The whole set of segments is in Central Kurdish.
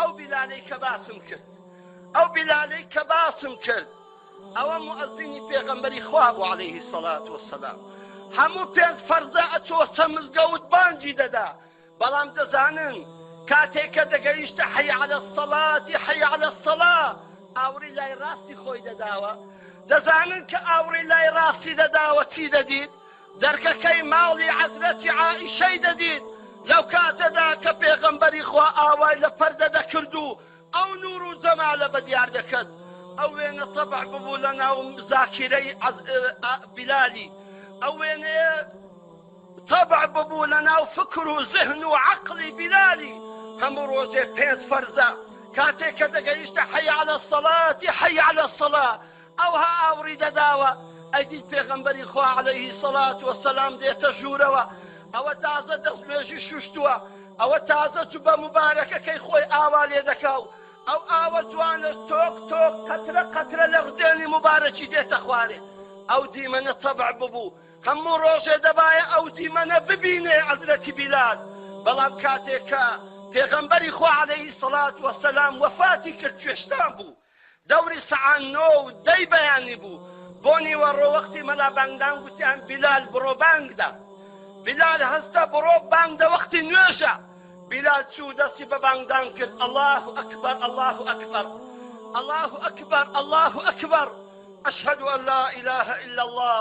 ئەو بیلانەی کە باسم کرد ئەو بیلانەی کە باسم کرد ئەوە مؤزینی پێغەمبەری خوا بۆ عليهەیهی سەڵات وسلام هەموو پێنج فەرزە ئەچۆ سەمزگەوت بانجی دەدا بەڵام دەزانن کاتێک کە دەگەیشتە حەی عەلە الصەڵاتی حەی عەلە الصەڵا ئاوڕی لای ڕاستی خۆی دەداوە دەزانن کە ئاوڕی لای ڕاستی دەداوە چی دەدیت دەرکەکەی ماڵی عەزرەتی عائیشەی دەدیت لەو کاتەدا کە پێغەمبەری خوا ئاوای لە پەردە دەکرد و ئەو نور و جەمالە بە دیار دەکرد ئەو وێنە تەبع ببوو لە ناو زاکیرەی بلالی ئەو وێنەیە تەبع ببوو لەناو فکر و زهن و عەقڵی بیلالی، هەموو ڕۆژێ پێنج فەرزە، کاتێ کە دەگەیشتە حی علی الصلوة حی علی الصلوة ئەوها ئاوڕی دەداوە، ئەیدیت پێغەمبەری خوا علیە الصلوة والسلام دێتە ژوورەوە، ئەوە تازە دەستنوێژی شوشتووە، ئەوە تازە جوبە موبارەکەکەی خۆی ئاوا لێ دەکا و ئەو ئاوە جوانەش تۆق تۆق قەترە قەترە لە ڕدێنی موبارەکی دێتە خوارێ، ئەو دیمەنە تەبع ببوو، هەموو ڕۆژێ دەبایە ئەو دیمەنە ببینێ عەزرەتی بیلال، بەڵام کاتێ کە پێغەمبەری خوا عەلەیهی سەڵات وەسەلام وەفاتی کرد کوێستان بوو دەوری سەعا نۆ و دەی بەیانی بوو بۆ نیوەڕۆ وەختی مەلا بانگدان گوتیان بیلال بڕۆ بانگدە بیلال هەستە بڕۆ بانگدە وەختی نوێژە بیلال چوو دەستی بە بانگدان کرد ئەڵاه ئەکبەر ئەڵاه ئەکبەر ئەڵاه ئەکبەر ئەڵاه ئەکبەر أشهد أن لا إله إلا الله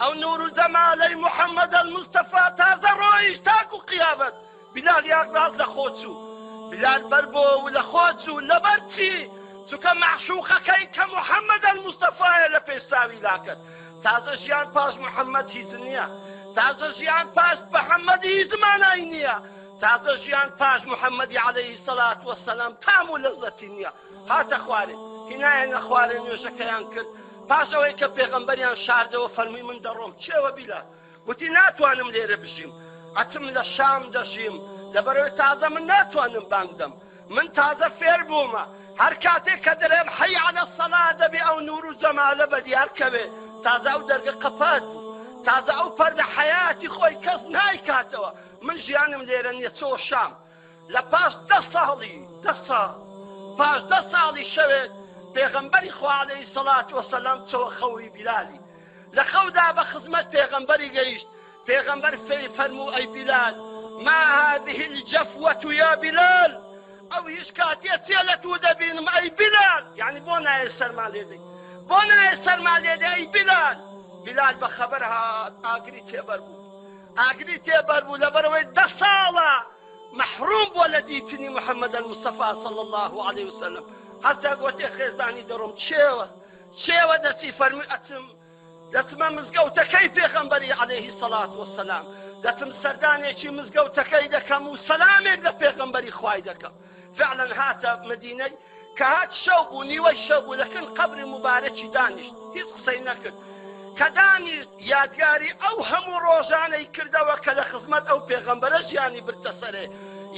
ئەو نور و جەمالەی محمد المستەفا تازە ڕۆیشت تاکو قیامەت بلال یان ڕاست لە خۆ چوو بلال بەر بۆ و لە خۆ چوو لەبەر چی چونکە مەعشوقەکەی کە محمد المستەفایە لە پێش چاوی لاکەت تازە ژیان پاش محمد هیچ نییە تازە ژیان پاش محمد هیچ مانای نییە تازە ژیان پاش محەممەدی عليهەی سەلات وەسەلام تام و لەزەتی نییە هاتە خوارێ هینایە نەخوارێ نوێژەکەیان کرد پاش ئەوەی کە پێغەمبەریان شاردەوە فەرمووی من دەڕۆم چێوە بیلا وتی ناتوانم لێرە بژیم ئەتم لە شام دەژیم لەبەرەوەی تازە من ناتوانم بانگدەم من تازە فێر بوومە هەر کاتێک کە دەرێم حەی عەلە سەلا دەبێ ئەو نور و جەمالە بە دیار کەوێ تازە ئەو دەرگە قەپات بوو تازە ئەو پەردە حەیاتی خۆی کەس نایکاتەوە من ژیانم لێرە نیە چۆ شام لە پاش دە ساڵی دە ساڵ پاش دە ساڵی شەوێت پێغەمبەری خوالەی سەڵات وەسەلام چەوە خەوری بیلالی لە خەودا بە خزمەت پێغەمبەری گەیشت پێغەمبەر فێی فەرموو ئەی بیلال ما هذه الجفوة يا بلال ئەو هیچ کاتێ چێ لە تو دەبینم ئەی بلال یعنی بۆ نایە سەرما لێدەی بۆ نایە سەرما لێدە ئەی بلال بلال بە خەبەر هات ئاگری تێبەر بوو ئاگری تێبەربوو لەبەرئەوەی دە ساڵە مەحروم بووە لە دیتنی محمد المصطفی صلی اللە علیە وسلم هەتا گۆتێ خێزانی دەڕۆم چێوە چێوە دەچی فەرمی ئەچم دەتمە مزگەوتەکەی پێخەمبەری عليهەیهی سەڵات وسلام دەتم سەردانێکی مزگەوتەکەی دەکەم و سەلامێک لە پێغەمبەری خوای دەکەم فعلا هاتە مدینەی کە هات شەو بوو نیوەی شەو بوو لەکن قبری مبارەکی دانیشت هیچ قسەی نەکرد کە دانیشت یادگاری ئەو هەموو ڕۆژانەی کردەوە کە لە خزمەت ئەو پێغەمبەرە ژیانی برتە سەرێ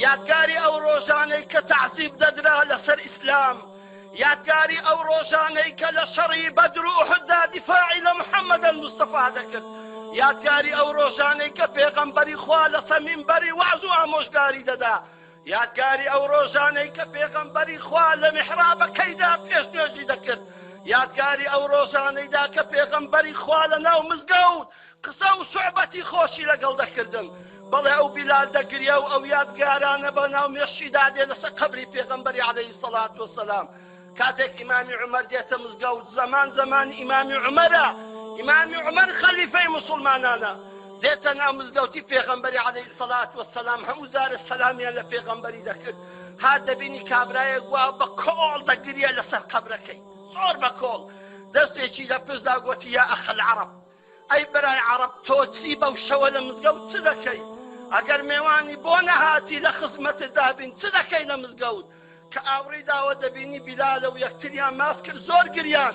یادگاری ئەو ڕۆژانەی کە تعزیب دەدرا لەسەر ئیسلام یادگاری ئەو ڕۆژانەی کە لە شەڕی بەدر و حدا دیفاعی لە محەممەدە مستەفا دەکرد یادگاری ئەو ڕۆژانەی کە پێغەمبەری خوا لە سەمین بەری واز و ئامۆژگاری دەدا یادگاری ئەو ڕۆژانەی کە پێغەمبەری خوا لە میحرابەکەیدا پێش نوێژی دەکرد یادگاری ئەو ڕۆژانەیدا کە پێغەمبەری خوا لە ناو مزگەوت قسە و سوعبەتی خۆشی لەگەڵ دەکردن بەڵێ ئەو بیلال دەگریا و ئەو یادگارانە بە ناو مێشیدا دێ لەسەر قەبری پێغەمبەری عەلەیهی سەڵات وسەلام کاتێک ئیمامی عومەر دێتە مزگەوت زەمان زەمان ئیمامی عومەرە ئیمامی عومەر خەلیفەی مسلمانانە دێتە ناو مزگەوتی پێغەمبەری عەلەی سەلات وە سەسلام هەموو زارە سەلامیان لە پێغەمبەری دەکرد ها دەبینی کابرایە گووا بە کۆڵ دەگریە لەسەر قەبرەکەی زۆر بە کۆڵ دەستێکی لە پشدا گوتی یا ئەخەل عەرب ئەی برای عەڕەب تۆ چی بەو شەوە لە مزگەوت چ دەکەی ئەگەر مێوانی بۆ نەهاتی لە خزمەتت دابین چ دەکەی لە مزگەوت کە ئاوڕی داوە دەبینی بیلالە و یەکتریان ماف کرد زۆر گریان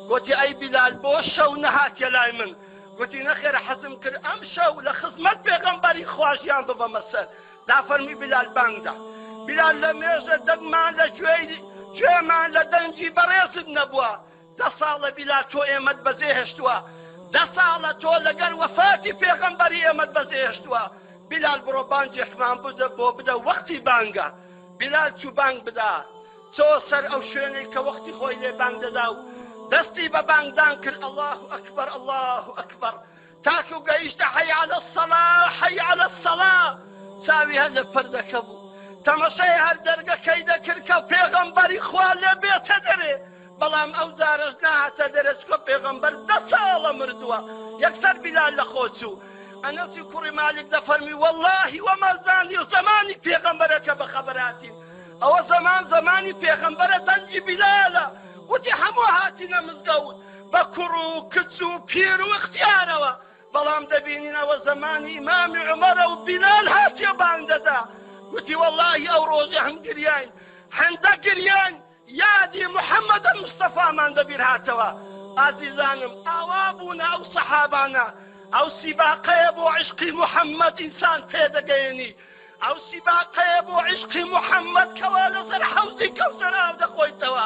گوتی ئەی بیلال بۆ شەو نەهاتیە لای من گوتی نەخێر حەزم کرد ئەم شەو لە خزمەت پێغەمبەری خواژیان ببەمە سەر دا فەرمی بیلال بانگدا بیلال لە مێژە دەگمان لە گوێی گوێمان لە دەنگی بەڕێزت نەبووە دە ساڵە بیلا تۆ ئێمەت بەجێ هێشتوە دە ساڵە تۆ لەگەر وەفاتی پێغەمبەری ئێمەت بەجێ هێشتوە بیلال بڕۆ بانجێکمان بدە بۆ بدە وەختی بانگە بیلال چوو بانگ بدا چۆ سەر ئەو شوێنەی کە وەختی خۆی لێ بانگ دەدا و دەستی بە بانگدان کرد الله ئەکبەر الله ئەکبەر تاکو گەیشتە حەی عەلە سەڵا حەی عەلە سەڵا چاوی هەر لە پردەکە بوو تەمەشای هەر دەرگەکەی دەکرد کە پێغەمبەری خوا لێ بێتە دەرێ بەڵام ئەو جارەش ناهاتە دەرە چکە پێغەمبەر دە ساڵە مردووە یەکسەر بیلال لە خۆچوو ئەنەسی کوڕی مالک دەفەرمی واللهی وەمەزانی و زمانی پێغەمبەرەکە بە خەبەراتین ئەوە زمان زمانی پێغەمبەرە دەنجی بیلالە وتی هەموو هاتینە مزگەوت بە کوڕ و کچ و پیر و ئختیارەوە بەڵام دەبینین ئەوە زەمانی ئیمامی عومەرە و بیلال هاتیە بانگ دەدا گوتی وەڵاهی ئەو ڕۆژە هەم گریاین هەندە گریان یادی محەممەد مستەفامان بەبیر هاتەوە ئازیزانم ئاوا بوونە ئەو سەحابانە ئەو سیباقەیە بۆ عشقی محەممەد ئینسان پێدەگەیەنی ئەو سیباقەیە بۆ عشقی محەممەد کەوا لەسەر حەوزی کەوسەر ئاو دەخۆیتەوە